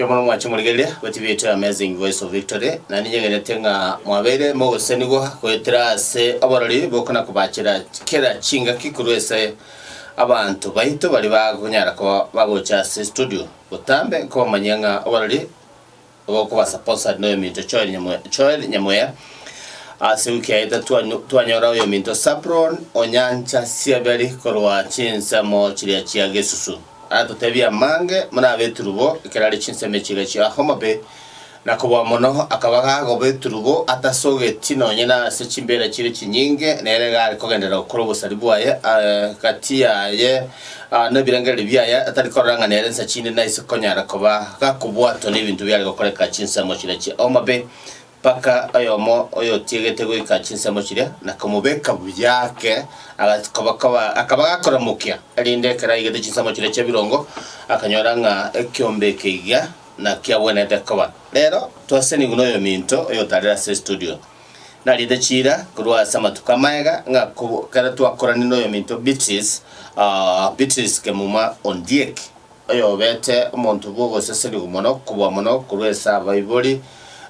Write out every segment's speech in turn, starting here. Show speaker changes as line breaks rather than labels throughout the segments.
Erio mono mwanche morigereria gwe TV yaito ya Amazing Voice of Victory, na ninye ng'enyete ng'a mwabeire mogosesenigwa goetera ase oborori bokona kobachera kera chingaki korwa ase abanto baito baria bakonyara koba bagocha ase studio botambe nkobamanyia ng'a oborori Ogokobasa Possard noyominto Joel Nyamweya Joel Nyamweya Ase wiki yaito twa twanyora oyominto Sapron Onyancha Sieberi korwa chinsemo chiria chia Gesusu aratotebia amange buna abeturubo ekero are chinsemo echi iga chia Homa Bay na koboa mono akaba gagoba eturubo atasogeti nonye nase chimbera chire chinyinge nere iga are kogenderera gokora obosari bwaye gati yaye Aa, nebirengererio biaye atari korora ng'a nere nsa chinde naise konyara koba gakobwatwa nebinto biare gokoreka chinsemo chiria chia omobe, mpaka oyomo oyotiegete goika chinsemo chiria na komobeka buya ake, agas- koba- koba- akaba gakoramokia, erinde ekero aigete chinsemo chiria chia birongo, akanyora ng'a ekiombe eke iga nakiagwenerete koba. Rero, twasenigwe noyominto oyotare ase estudio. Narinde chiira korwa ase amatuko amagega ng'a ekero twakoranie n'oyominto Beatrice, Beatrice Kemuma Ondiek, oyobete omonto bw'ogosesenigwa mono kobua mono korwa ase abaibori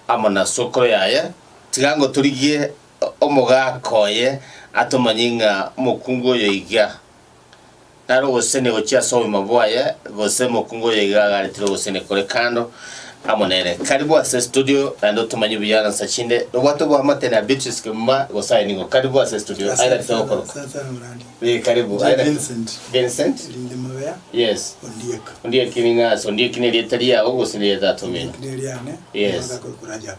amo na sokoro yaye, tiga ngotorigie omogaaka oye atomanye ng'a omokungu oyoiga naro ogosesenia gochia ase obogima bwaye, gose mokungu oyo iga agaretire ogosesenia kore kando amo nere. Karibu ase studio naende otomanye buya ng'a nsa chinde nobwate oboamate na Beatrice Kimuma gose aye nigo. Karibu ase studio. Aye naki togokoroka? Asante sana Moradi. Eh, karibu. Inche Aye naki- Vincent Vincent? Linge Mabea
Yes.
Ondiek. Ondieki ning'aa ase Ondieki nerieta riao gose nerieta atomino? Ondiek neriane Yes. Mabea Kokurajab.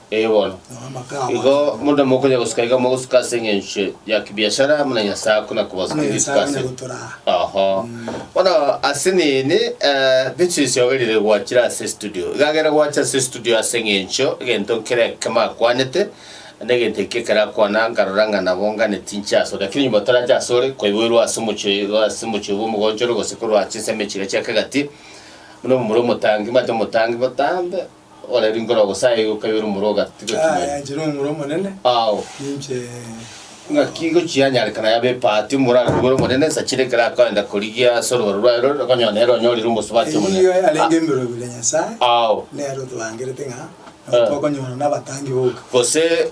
Ee bono,
igo munde mokonya gosika iga mogosika ase eng'encho ya kibiashara muna Nyasae akona kobasika gosika ase. Oho. Bono ase nini eh, Beatrice ogerire gwachire ase studio. Iga agere gwacha ase studio ase eng'encho egento nkere ekemo akwanete, na egento eki ekero akwana nkarora ng'a nabo ngane tinche ase ore. Lakini nyuma torache ase ore, kwaiboirwe ase omochie oyo iga ase omochie obo omogonchore gose korwa ase ensemo echiga chiakagati, buna omomura omotangi, omanyete omotangi botambe, Okorera inkoro ogosae gokaiyorwa omoro ogatigwa chimweri. Aya chire omoro omonene.
Ao. Ninche. Ng'aki
gochianyarekana yabe epaati omoro are kobera omonene nsa chire ekero akoenda korigia ase orobaro rwaye rore okonyora nere onyorire omosubati omonene. Erigiyo yarenge emerobio
ya Nyasaye. Ao. Nere otorangerete ng'a. Nabo tokonyora nabatangi boka. Gose.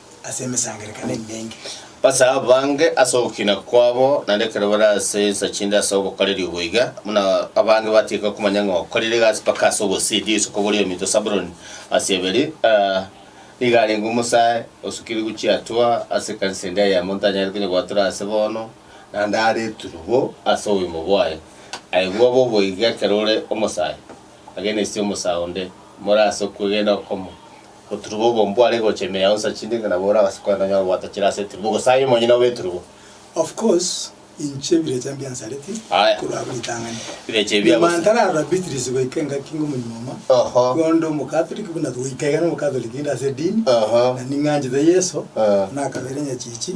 ase emesangererekano emenge. Base abange
ase ogokina kwabo, naende ekero bare ase ensa chinde ase obokoreri obo iga, buna abange batiga komanya ng'a okorire egasi mpaka ase obosidi, isiko boria ominto Sabuloni ase Eberi, nigo arenge omosae osukirigwe chiatua ase ekanisa ende eyemo, ntanyare konyebwatora ase bono, naende are eturubo ase oboimo bwaye. Aye bwabo obo iga ekero ore omosae, agena ise omosae onde, more ase okwegena okomo. Oturubo obo mbware gocha ime yao nsa chinde ng'a nabo ore agase kogenda onyore gobwata chire ase eturubo, gose aye omonyene obe eturubo. Of
course, inche birecha mbiansareti Aya. korwa abwo ritang'ani. Birecha ebi Nyuma agose.
ntararora Beatrice
goika engaki ng'a omonyuoma, Oho. igo onde omokatoliki buna goika iga nomokatoliki inde ase edini, Oho. na ning'anchete Yeso, Oho. nakabere nyachichi,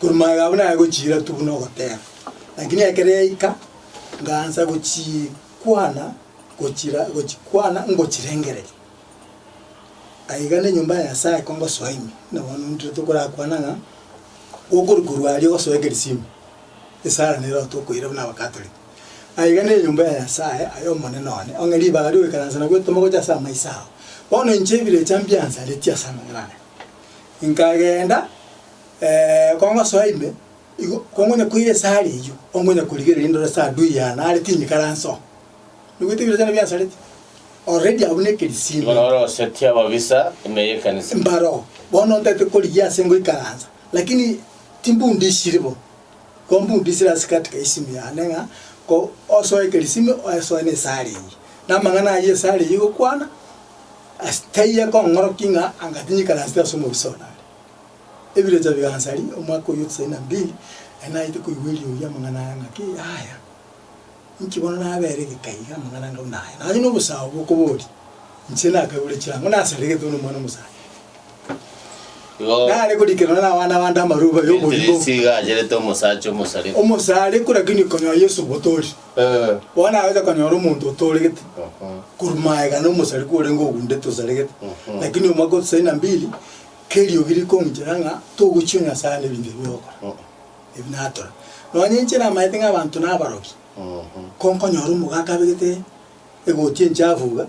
Korwa magega abwo nayegochiira tu buna ogoteba. Lakini ekero yaika, ngaancha gochikwana gochira gochikwana ngochirengereria. Aiga nenyomba ya Nyasaye ko ngosoa ime, buna bono intwe tokorakwana ng'a okori korwa aria ogosoa ekerisio ime, esara nero tokoira buna abakatoliki. Aiga nenyomba ya Nyasaye aye omonene one, ong'e ribaga riogoikaransa nagwo etomogocha ase amaiso ao. Bono inche ebire echa mbiansaretie ase amang'ana aya. Nkagenda ko ngosoa ime, igo kongonya koira esare eyio, ongonya korigereria ndore ase adui yane are tinyikaransoa. Noboeti ebirochano biansareti, already abwo na ekerisimo. Bono orosetie ababisa
ime y'ekanisa. Mbaroo, bono
ntagete korigia ase ngoikaransa, lakini timbundisiri bo, ko mbundisire ase katika isimu yane ng'a ko osoe ekerisimo, osoe na esare eyio. Na amang'ana ayio esare eyio igokwana. Ase taiyo kong'orokia ng'a angatinyika nansete ase omobisa one are. Ebirecha bigansari omwaka oyio tisaini na mbili, ere naete koigwa eriugu ri'amang'ana aya ng'a ki yaya, inki bono nabeera egeka iga amang'ana anga buna aya? Nonye nobosao bokoboria, inche nakagure chirango nasaregete buna omwana omosacha. Igo Nare korikererwa nere abana bande amaroba y'omorimo. Yesu iga acherete omosacha
omosarigwa. Omosarigwa lakini
konyora Yesu botori. Bono nagocha konyora omonto otooregete korwa magega na omosarigwa orenge ogundete osaregete, lakini omwaka o tisaini na mbili keriogi rikonchera ng'a togochia Nyasaye nebinto ebi ogokora, ebi natora. Nonya inche namaete ng'a abanto nabarokia, ko nkonyora omogaka abegete. egoti enchafu iga,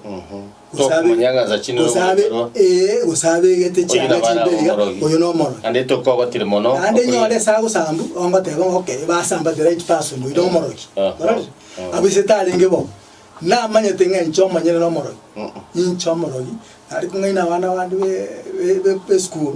gose abe, Tokomanya ng'a nsa chinde gose abe, n'omoibero. ee, gose abegete Oyio chianga nabana chimbe iga, b'omorogi. oyo nomorogi. Naende tokogotire mono.
Naende okonyora- nyore ase agosambu
ogoteba ng'a okay iba asamba the right person oyo nomorogi Ah, ah, orore ah. abwo ise tarenge bo namanyete ng'a inche omonyene nomorogi Mm-mm. ninche omorogi nari kong'aina abana bande be- be- be- be school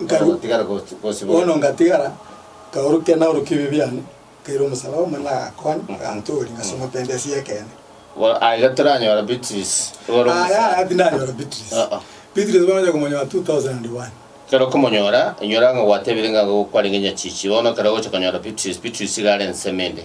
Nkaru- Ogotigara gos- gosibore. bono ngatigara
nkaorokia naorokia ebibe biane, nkaira omosalaba omonene agakonya, agantooria, ngasoma pendensi y'ekeene. Bo- Aiga
toranyora Beatrice. Igoro Aya omosacha. aya
tindanyora Beatrice. Ah, ah. Beatrice bono onya komonyora 2001. Ekero okomonyora,
inyora ng'a gwatebire ng'a gokwarenge nyachichi, bono ekero ogocha konyora Beatrice, Beatrice iga are ensemo ende.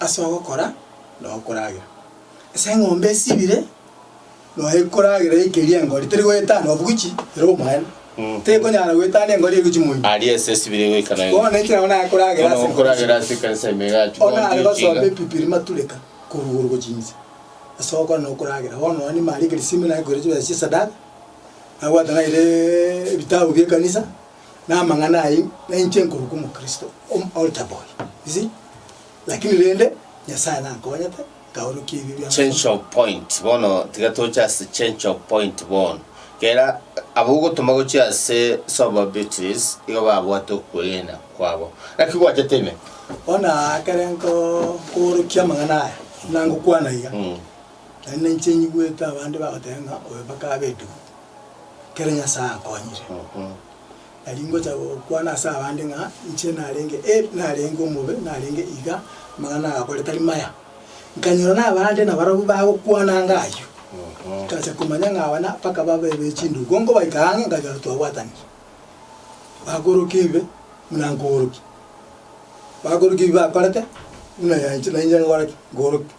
Ase ogokora na okoragera. Ase eng'ombe esibire noe ekoragera eikeria engori teri goetana obugichi ere omoene. Mm. Tekonyara goetana engori egochi moino. Aria ase esibire
goika na Bono ekero nabo nakoragera
Bono ase engori okoragera ase
ekanisa ime igachi Ona are kontio basombe
chiga. Bibiri matureka korwa igoro gochia inse. Ase ogokora na okoragera. Bono nonya nimare ekerisimi naye koira chibesa chia esadaka, nabwate naira ebitabu bia ekanisa. namang'ana ayio nainche nkorokwa omokristo om altar boy you see lakini rende nyasaye nankonyete nkaorokia ebio bia change amasomo of point
bono tiga toche ase change of point bono kera abo ogotoma gochia ase sober beatrice igo babwate okwegena kwabo naki gwachete ime bono aa ekere
nko nkoorokia amang'ana aya buna ngokwana iga Mm. naende nainche nyigwete abande bagoteba ng'a oyo mpaka abe edu kera Nyasae ankonyire. Nari ngocha gokwana ase abande ng'a inche narenge e, narenge omobe, narenge iga, amang'ana nagakore tari maya. Nkanyora nabande nabarabwo bagokwananga ayio. Nkacha komanya ng'a abana mpaka babe be chindugu. Igo nkobaika ang'e nkanyora twabwatanire. Bakorokia ebibe, buna nkorokia. Bakorokia ebi bakorete, buna nainche nainche nkore ki? Nkorokia.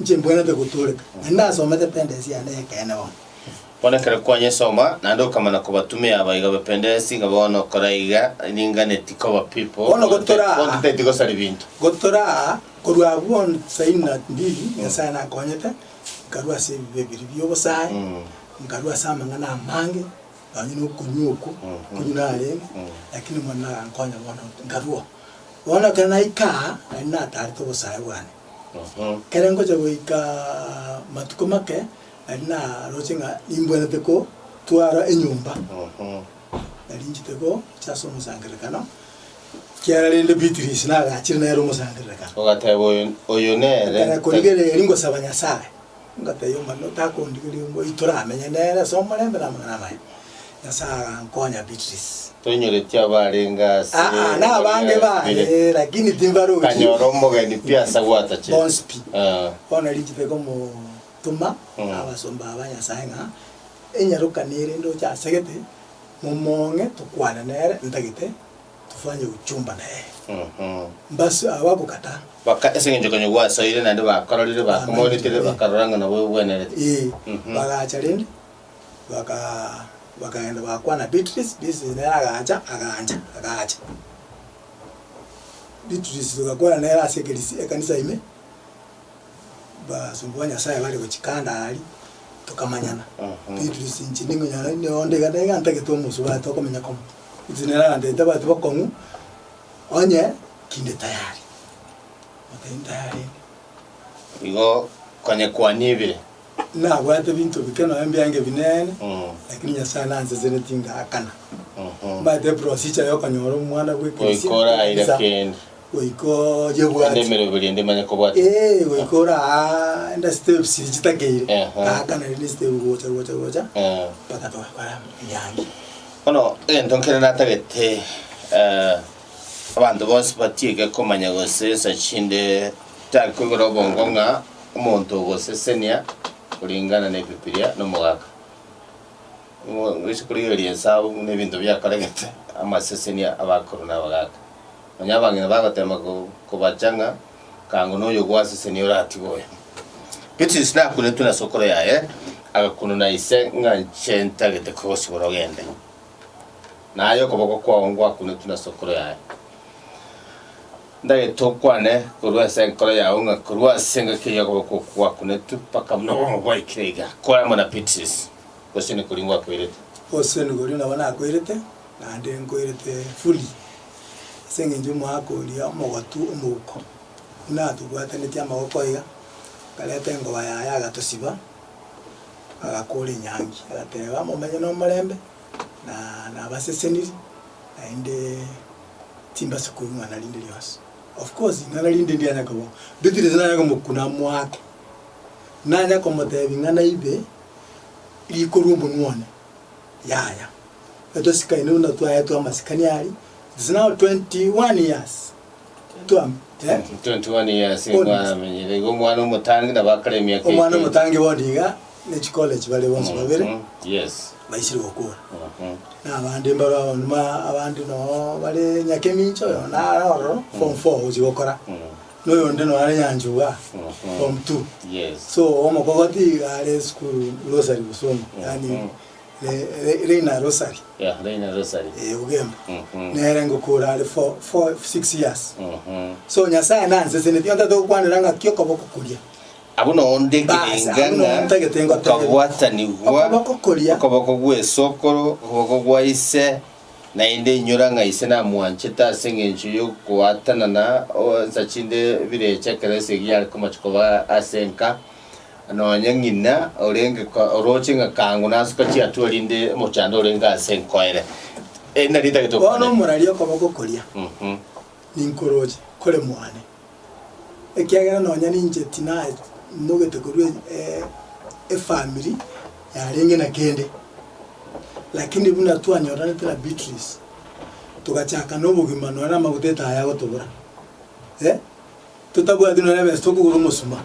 Inche mbwenerete gotooreka, na nasomete pendensi yane y'ekeene bono. Bono ekero
kwanyesoma, naende okamana kobatumia abaiga b'ependensi, ng'a bono okora iga, ninganeti koba pipo, Bono gotoraa, gontoteti
gosari binto.
gotoraa,
korwa abwo bono tisaini na mbili, Nyasae nakonyete, nkarua ase ebibe biria bi'obosae, nkarua ase amang'ana amange, nonya na okonywa okwo, okonywa narenge, lakini Omwene nagankonya bono nkarua oo. Bono ekero naika aa, nari natarete obosae bwane. Ekero ngocha goika matuko make, nari naroche ng'a nimbwenerete kotwara enyomba. Nari inchete gocha ase omosangererekano, ekiagera rende Beatrice nagachire nere omosangererekano. Ogateba, Oyo,
oyo nere. Ekero akorigereria
ngosaba Nyasae. Ngatebia omorembe ore, Takondigeria omoyio toramenye nere ase omorembe na amang'ana amaya. Nyasae agankonya Beatrice. Toinyoreti
abarenge ase Aa, na abange
bare, Bire. lakini timbarochi. Kanyora omogeni
pi ase gwatache. Bonsi pi. Ee.
Bono richiko ekomotoma Mm. abasomba aba Nyasae ng'a enyarokano ere ndoche asegete, momong'e tokwane nere ntagete tofanye uchumba naye. Mhm. Mbasi aba bokata. Baka ase engencho
konya gwasoire naende bakororire, bakomoirekere, bakarora ng'a nabo ogwenerete. Ee, Mhm. bagacha rende,
baka bakaenda bakwana Beatrice, Beatrice nere agacha, agacha, agacha. Beatrice togakwana nere ase ekerisi ekanisa ime. Abasomba ba Nyasaye bare gochia kando aria, tokamanyana. Beatrice inche nimonyara inde onde iga niga ntagete omosubati tokomenya komo. Inche nere arantebete abati bokong'u, onye kinde tayari. Nabwate ntayari.
Igo konye kwanyibire. Nabwate
binto bike nonya mbiange binene, lakini Nyasae nanseseneti ngakana. Mbwate eprosicha yokonyora omwana bw'ekeresia. Goika oraire ekanisa,
kende. Goika Ande
oyebwati. emereo biri ende manya
kobwata. Ee, goika oraande
steps chiria chitakeire. Ehe. Ngakana rende estep gocha gocha gocha, Eh. mpaka twakora mbiange. Bono
egento nkere natagete eh, abanto bonsi batiege komanya gose ensa chinde Tari koigora obongo ng'a omonto ogosesenia koringana n'Ebibilia nomogaka. Nigo ngochia korigereria ensabu buna ebinto biakoregete amasesenia abakoro na abagaka. Nonya abang'ina bagotema kobacha ng'a kaango noyo gwasesenia oratigwe oyo. Beatrice nakunetwe na sokoro yaye, agakunu na ise ng'a inche ntagete kogosibora ogende. Naye okoboko kwao ngwakunetwe na sokoro yaye. Ndagete okwane korwa ase enkoro yao ng'a korwa ase engaki eyio okoboko okwo gwakunetwe mpaka buna obomo bwaikire iga, kore amo na Petris, gose nikori ngwakoirete? Gose nikori nabo
nakoirete? Naende nkoirete buri, ase engencho omoaka oria omogotu omouko, buna atobwatanetie amaboko aiga, akareta engoba yaye agatosiba, agakora enyangi, agateba, Momenye nomorembe. na nabaseseniri naende timbasa koigwana rinde rionsi. Of course ing'ana rinde ndianya kobo ndutire ase nanya komokuna mwake, nanya komotebi ng'a naibe riko rwa omonwa one, yaya. Natosikani buna twaetwe amasikani aria, it's now twenty one years. 21 years nigo
Honest. aramenyire igo omwana omotangi nabo akare emiaka omwana 18. omotangi bondi iga
ne chikoleji bare bonsi babere Mhm, yes baisire
gokora
Mhm. na abande mbaro abo nima abande noo bare enyaka emincho oyo nare ororo form four gochi gokora Mhm. na oyonde noo are nyancha igaa Mhm. form two yes so
omokogoti
iga are esukuru rosari gusoma yaani Mhm. Reina Rosary, Yeah, Reina Rosary.
eh, ogemba,
Mhm. nere ngokora are four, four, six years. Mhm. So Nyasaye nanseseni pi ontate gokwanera ng'aki okoboko koria. Abwo nonde
Bas, abwo ekebengana nontagete ngotebe. okabwatanigwa Okoboko koria. okoboko gw'esokoro okoboko
gwa
ise naende inyora ng'a ise namwanchete ase eng'encho y'ogwatanana o- nsa chinde bire echa ekero ase egiya are komocha koba ase enka Nonya ng'ina orenge ko- oroche ng'a kango nasoka chiatua rinde omochando orenge ase nkoere. Eri nari etagete Bono okwana. omoraria okoboko
koria, Mhm. ninkoroche, kore mwane, ekiagera nonya ninche tinamogete korwa e- efamiri yarenge na kende. Lakini buna twanyoranete na Beatrice, togachakana obogima nonye na amaguta etaya agotobora. Eh. Totabwati nonye besa tokogora omosuma,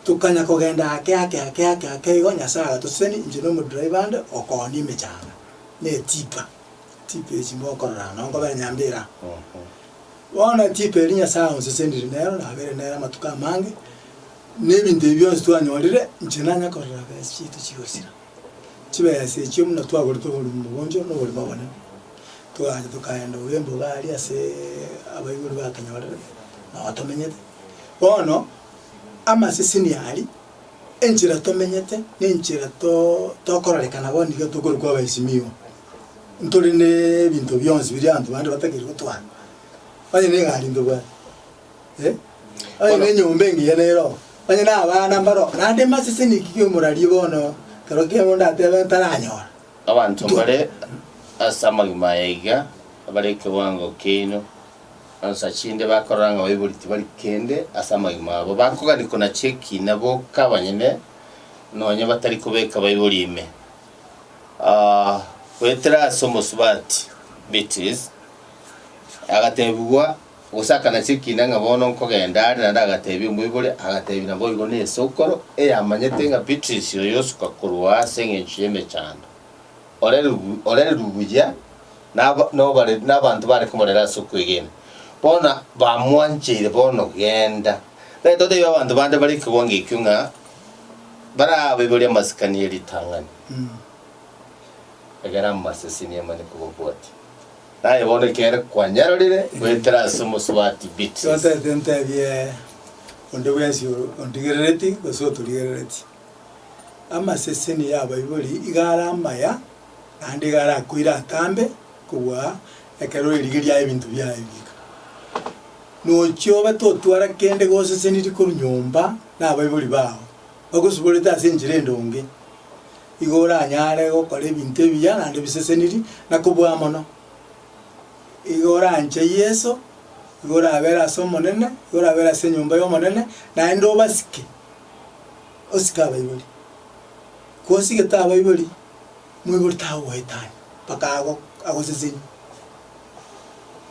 tokanya kogenda ake ake ake ake ake igo Nyasae agatoseseni inche na omodriver ande okoonia emechanga na etipa, etipa echi mokorora nonye nkobera nyambera. Bono etipa eria Nyasae aonsesenire nero nabeire nere amatuko amange, na ebinto ebi bionsi twanyorire inche nanya korora besa chiaito chigosira. Chibesa echio buna twagorete oborimo mogoncho na oborimo obonene, togacha tokaenda oyo embobe aria ase abaibori batonyorerete na batomenyete. Bono amaseseni aria, enchera tomenyete na enchera too tokororekana bono niga tokorokwa abaheshimiwa, ntore na ebinto bionsi biria abanto bande batakeire gotwara, onye na egari ntobwati. Onye nenyomba engiya neroo, onye nabana mbaroo, naende emasese niki kemorarie bono ekero kiabo ndatebe ntaranyora? Abanto mbare
ase amagima aya iga, abare ekewango kiaino, onsi achia inde bakorora ng'a baibori tibari kende ase amagima abo, bakogani konachia ekina boka abanyene, nonya batari kobeka baibori ime. Goetera ase omosubati Beatrice, agatebigwa. Gose akanachia ekiina ng'a bono nkogenda are, naende agateebia omoibori, agateebia, Naboigo nesokoro, eyamanyete ng'a Beatrice oyo osoka korwa aa ase engencho y'emechando, orererwe buya nabaanto bare komorera ase okwegena, bono bamwancheire, bono genda, naende oteebie abanto bande bare ekegongo ekio ng'a barabaibore amasikani ye ritang'ani, egera amaseseni emanye kobabwatia. Naye bono ekero kwanyarorire goetera ase omosubati Beatrice. Ntotereti ntebie
onde bwensi oro ondigerereti gose otorigerereti. Amaseseni y'abaibori iga are amaya, naende iga arakoire atambe kobua ekero oirigeria ebinto biaye bieka. Nochie obe totwara kende gosesenirie korwa nyomba nabaibori bao, bagosiborete ase enchera endonge, igo oranyare gokora ebinto ebiya naende ebiseseniri, na kobua mono. Igo oranche Yeso, igo orabere ase Omonene, igo orabere ase enyomba y'Omonene, naende obasike, osike abaibori. Kosigete abaibori, moibori tagogoetania mpaka ago agosesenie.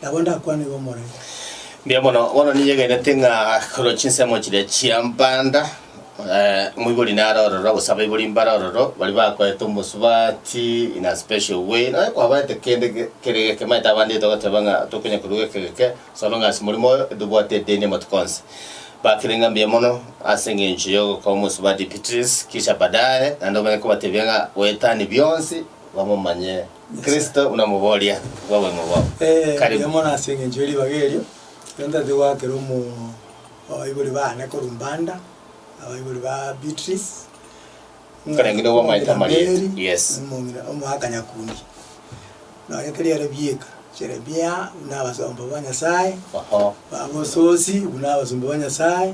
Nabo ndakwane igo more. Mbuya mono,
bono ninyegenete ng'a korwa chinsemo chiria chia mbanda, eh, omoibori nare ororo, gose abaibori mbare ororo, baria bakoete omosubati in a special way, nonya kwabaete kende ge- kere geke, omanyete abande togoteba ng'a tokonya korwa geke geke, as long as morimo oyo tobwate edeni amatuko onsi. Bakire ng'a mbuya mono ase eng'encho ya ogokoa omosubati Beatrice, kisha baadaye naende omanye kobatebia ng'a goetania bionsi bamomanye Kristo buna moboria bw'oboimo bwao. Ee, Karibu. erio mono ase
engencho ye ribaga erio, ekero ntareti goakera omo abaibori baane korwa Mbanda, abaibori ba Beatrice,
Karenge nigo bamaete amarieta. Mary, Yes. omong'ina omoaka
Nyakundi. Nonya keri ere bieka, Jeremia, buna abasomba ba Nyasaye, Oho. Abagososi, buna abasomba ba Nyasaye.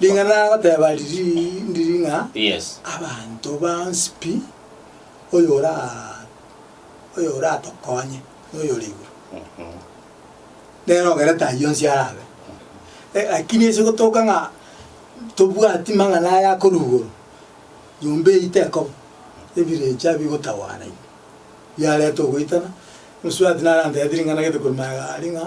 Ring'ana nagoteba ririi ndiri ng'a Yes.
abanto bonsi
pi, oyo ora oyo oratokonye noyo ore igoro. Mhm. Nere ogerete ayio onsi arabe. Eh, lakini ase gotoka ng'a tobwati mang'ana aya akorwa igoro, nyomba eyio tekoba, ebirecha ebi bigotagwana ibi, biareta ogoitana, mosubati naro antebete ring'ana gete korwa magega aria ng'a.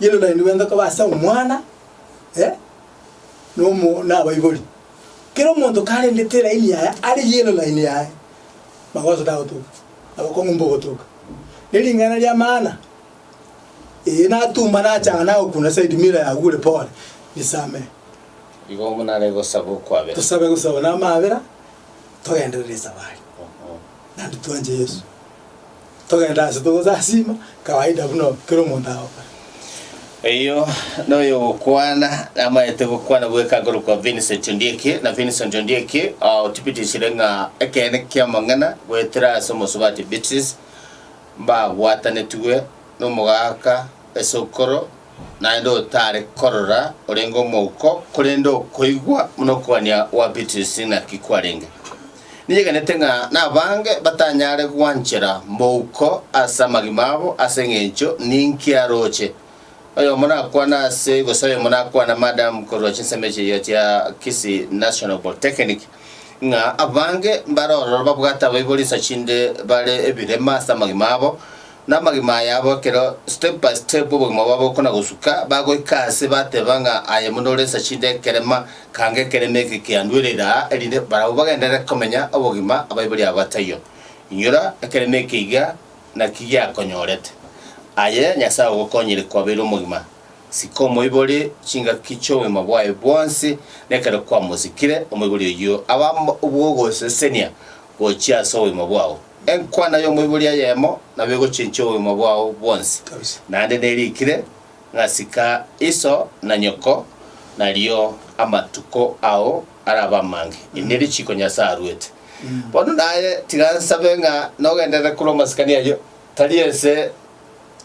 Inwe naende bwenka koba ase Omwana, eh, nomo nabaibori. Kera omonto karendete eraini yaye are yellow line yaye, magoso tagotoka, abakong'u mbogotoka. Nering'ana ria maana, ee natuma nachanga nagokuna side mirror yagure pore, nisamehe. Igo
monare gosaba okwabera. Tosabe gosaba namaabera,
togenderere esabari. Naende twanche Yeso. togende ase togosasiima kawaida buna kera omonto agokora.
Oyio noyogokwana namaete gokwana bweka akorokwa Vincent Ondieki, na Vincent Ondieki otibitisire ng'a ekeene ki'amang'ana goetera ase omosubati Beatrice mbabwatanetigwe nomogaka es'okoro Naende otare korora orenge omouko, korende okoigwa buna okogania gwa Beatrice naki kwarenge. Ninyegenete ng'a nabange batanyare gwanchera mouko ase amagima abo ase engencho ninki aroche. Oyomo nakwane ase gose oyomo nakwane madam korwa chinsemo echi eyo chia Kisii National Polytechnic ng'a abange mbare ororo babwate abaibori insa chinde bare ebirema ase amagima abo, Namagima aya abo ekero step by step obogima bwabo bokona gosuka, bagoika aase bateba ng'a aye buna ore esashi inde ekerema, kanga ekerema eke kiandwere ira aa, erinde barabwo bagenderere komenya obogima abaibori aba bataiyo. Inyora ekerema eke iga naki giakonyorete. Aye Nyasae ogokonyire kwabeire omogima, sika omoibori chingaki chi'obogima bwaye bwonsi, na ekero kwamosikire, omoibori oyio abe obw'ogosesenia gochia ase obogima bwao. Enkwana y'omoibori eyemo nabo egochinchia obogima bwao bwonsi. Naende nerikire ng'a sika iso na nyoko, nario amatuko ao arabe amange. Iri nerichiiko Nyasae aruete. Bono naye tiga nsabe ng'a nogenderere korwa amasikani ayio, tari ense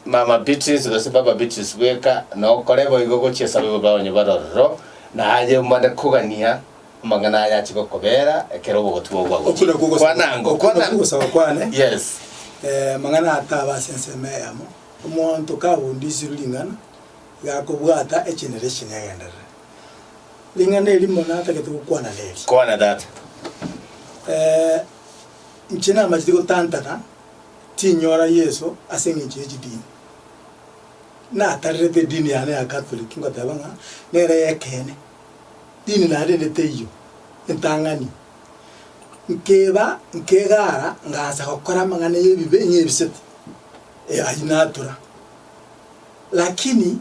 Mama Beatrice gose Baba Beatrice bweka, nokore boigo gochia esabe bobe abanyabaro ororo, naye mbare kogania Amang'ana aya ache gokobeera ekero obogotima obwo Oko bwagochia. nakwo Kwa ogosaba, nango, oko kwa nakwo nango. ogosaba kwane,
Yes.
eh, amang'ana
ataaba ase ensemo eyemo. Omonto kabundisirwe ring'ana, iga akobwata echenera echi negenderere. Ring'ana erimo natagete gokwana neri. Kwana tata.
Eh,
inche namachete gotantana tinyora Yeso ase eng'encho ye chidini. Natarerete edini yane ya Catholic ngoteba ng'a nere eyekeene. rinena rinde teiyo entang'ani, nkeba nkegaara ngaancha gokora amang'ana y'ebibe ng'a ebisete, ee, ayio natura. Lakini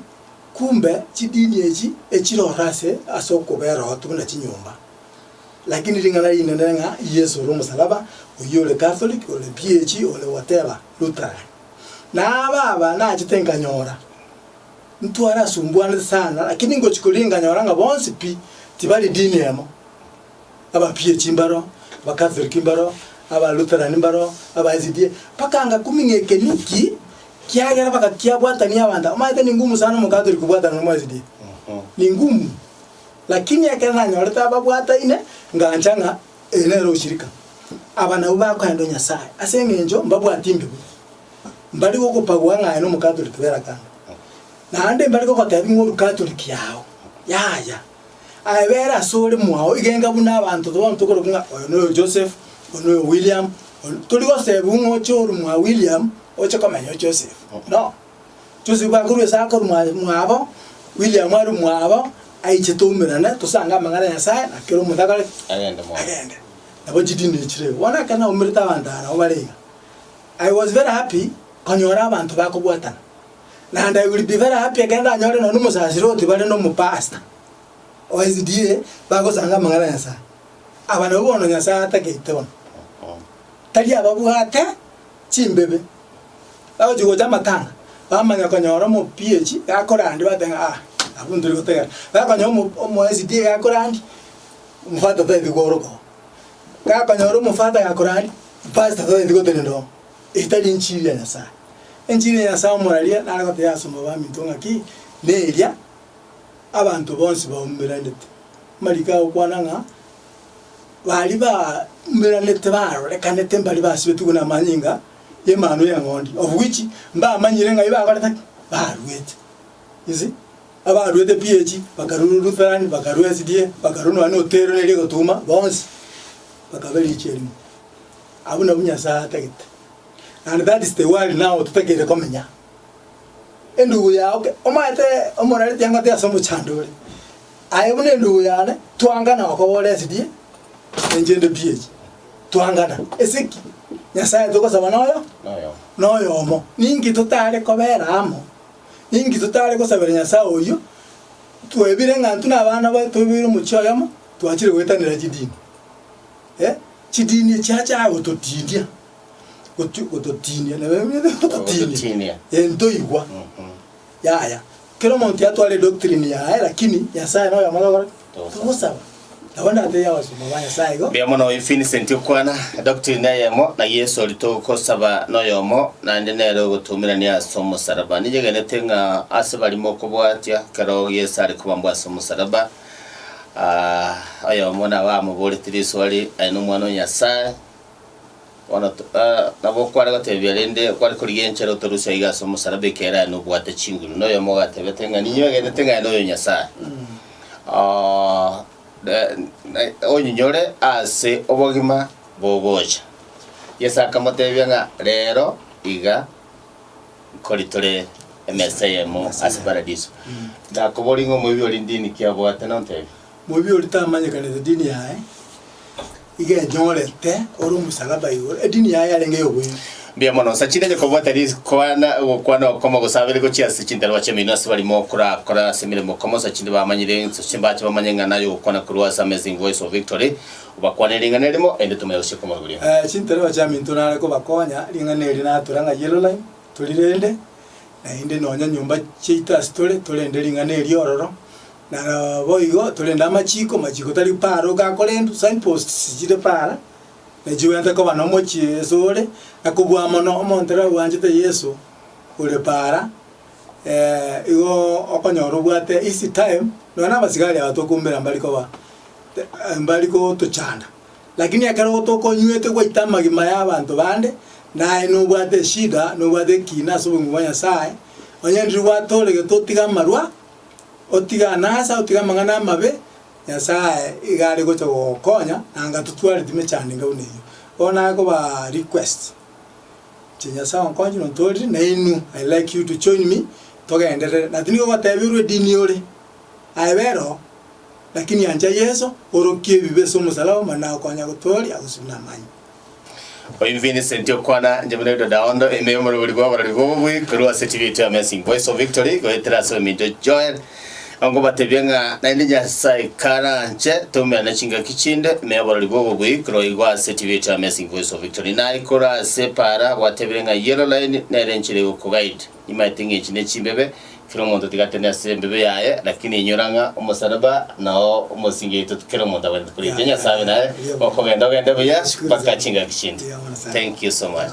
kumbe chidini echi echire ororo ase ase okobera obotuko na chinyomba, lakini ring'ana rinene ng'a Yeso ore omosalaba, oyio ore Catholic, ore PAG, ore whatever, Lutheran. Nabo aba nachete nkanyora. Ntwarasumbuanete sana, lakini ngochia koria nkanyora ng'a bonsi pi tibari dini emo. Abapiechi mbaro, Abakatholiki mbaro, Abalutheran mbaro, aba SDA, mpaka ngakuming'a ekeni ki kiagera baka kiabwatania abanto. Omanyete ni ngumu sana Omokatholiki kobwatana nomo SDA. Ni ngumu. Lakini ekero nanyorete ababwataine, ngancha ng'a ere nere oshirika. Aba nabwo bakoenda o Nyasae, ase eng'encho mbabwati mbe bo. mbare gogopagua ng'aye na Omokatoliki bw'erakano, naende mbare gogotebia ng'a Orukatoliki yao yaya, aye bere asore mwao igenga buna abanto bonsi tokorokwa ng'a oyo noyo Joseph, oyo noyo William, oyo tori gosebigwa ng'a oche oru mwa William oche komenya o Joseph, no. Joseph akorwa ase akoru mwa mwabo, William aru mwabo, aiche toumerane tosange amang'ana 'a Nyasaye na kera omonto akore ki? Agende. Nabo chidini echi rero, bono ekero naumerete abanto aba nabo bare iga. I was very happy konyora abanto bakobwatana, naende I will be very happy ekero ndanyore nonya omosasiroti bare nomopasta o SDA bagosanga amang'ana a Nyasae. Aba nabwo bono Nyasae atageite bono, tari ababwate chimbebe, bagochi gocha amatanga bamanya konyora omo PH gakorandi bateba ng'a ah abwo ntori gotegena, bakonyora omo omo SDA gakorandi, omofata tari kworokwo. Gakonyora omofata gakorari pasta totagete gotebia ndomo, eye tari enchiri ya Nyasaye. Enchiri ya Nyasaye omoraria nare gotebia ase omobere bwaminto ng'a ki, neria abanto bonsi baumeranete. Amariko agokwana ng'a bari baumeranete barorekanete mbari basibetigwe buna amanyinga y'emanu y'eng'ondi, obuichi mbamanyire ng'a ebi bakorete ki, baruete. You see? Abaruete pi echi bakarua Lutherani, bakarua SDA, bakarua nonya na Oteiro neria egotuuma, bonsi bakaba eriicho erimo. Abwo nabwo Nyasae atagete. And that is the world now totakeire komenya. Endugu yao ke- omaete omorareti ang'ote ase omochando ore, aye buna endugu yane, twangana okobora SDA na inche inde pi echi. Twangana. Ase ki? Nyasae togosaba noyo? Noyomo. Noyomo. Ninki totare kobera amo? Inki totaare gosabera Nyasae oyio twebire ng'a intwe nabana baye toiboire omochie oyomo twachire goetanera chidini? Eh, chidini chiachaka gototinia, goti gototinia nabo Gototinia. eh ntoigwa. Yaya, kera omonto yatwara edoctrine yaye lakini Nyasaye noyomo togokora ki? Togosaba. Nabo natebia abasomba ba Nyasae igo. Mbuya mono Vincent okwana edoctrine neyemo na Yesu oria togosaba noyomo naende nere ogotumerania ase omosaraba. Ninyegenete ng'a ase baria mokobwatia kero Yesu are kobambwa ase omosaraba, ah, oyomo nabo amoboretie risoa ri, Aye nomwana o Nyasae. Bono nabo okware gotebia, rende okware korigia enchera otorusia iga ase omosalaba ekiagera aye nobwate chinguru. Noyomo ogatebete ng'a ninywe egenete ng'a noyo Nyasae onyinyore ase obogima bogocha. Yeso akamotebia ng'a rero iga nkori tore emesa eyemo ase paradiso. Nakobori ng'a omoibi orinde iniki abwate nontebie? Moibi oria tamanyekanete edini yaye, iga enyorete ore omosalaba igoro, edini yaye yarenge y'oboibi. Mbuya mono. Sa chinde enye kobwata rikwana gokwana okoma gose abere gochia ase chintarwa chi'emenwa ase barimo korakore ase emeremo okoma sa chinde bamanyire ense ase mbache bamanye ng'a naye ogokwana korwa ase Amazing Voice of Victory obakwanere ring'ana erimo erinde tomanye gochia komoruria. Eh, chintarwa chiaminto nare kobakonya ring'ana eri natura ng'a Yellow Line tori rende, naende nonya nyomba chiaito ase tore torende ring'ana eri ororo, Naboigo torende amachiko, machiko tari paara oka akorentwe, signposts chire paara, ne chibwate koba nomochie esore, na kobua mono omonto ere obwanchete Yeso ore paara, igo okonyora obwate easy time, nonya na abasigari aba tokombera mbari koba mbari gotochanda. Lakini ekero gotokonywete gwaite amagima ya abanto bande, naye nobwate eshida, nobwate ekiina ase obogima bwa Nyasaye, onye ndiri gwatoregete otiga amarwa, Otige anasa, otige amang'ana amabe, Nyasae iga are gocha gogokonya, na anga totwareti mechandinga buna eyio. Bono naye koba request, inche Nyasae onkonye nontorire, na inwe I like you to join me togenderere. Na tindi kogoteberwa edini ore, aye bera oo, lakini ancha Yeso, orokie ebibe ase omosalaba, mani naye okonya gotooria, gose buna amanye. Oyo Vincent okwana inche buna Yuda Daondo ime y'omorobori bw'abarori b'obobui korwa ase Chibiito Amazing Voice of Victory goetera ase ominto Joel onkobatebia ng'a naende Nyasae karanche toumera ne chingaki chinde ime y'abarori b'obobui korwa igo ase Chibiito Amazing Voice of Victory naye korwa ase epaara gwatebire ng'a Yellow Line nere enchera egokoguide Nimaete ng'a echi nechimbebe, kera omonto tigatene ase embebe yaye, lakini inyora ng'a omosalaba nao omosingi yaito kera omonto abwenerete koretia Nyasae naye okogenda ogende buya mpaka chingaki chinde. Thank you so much.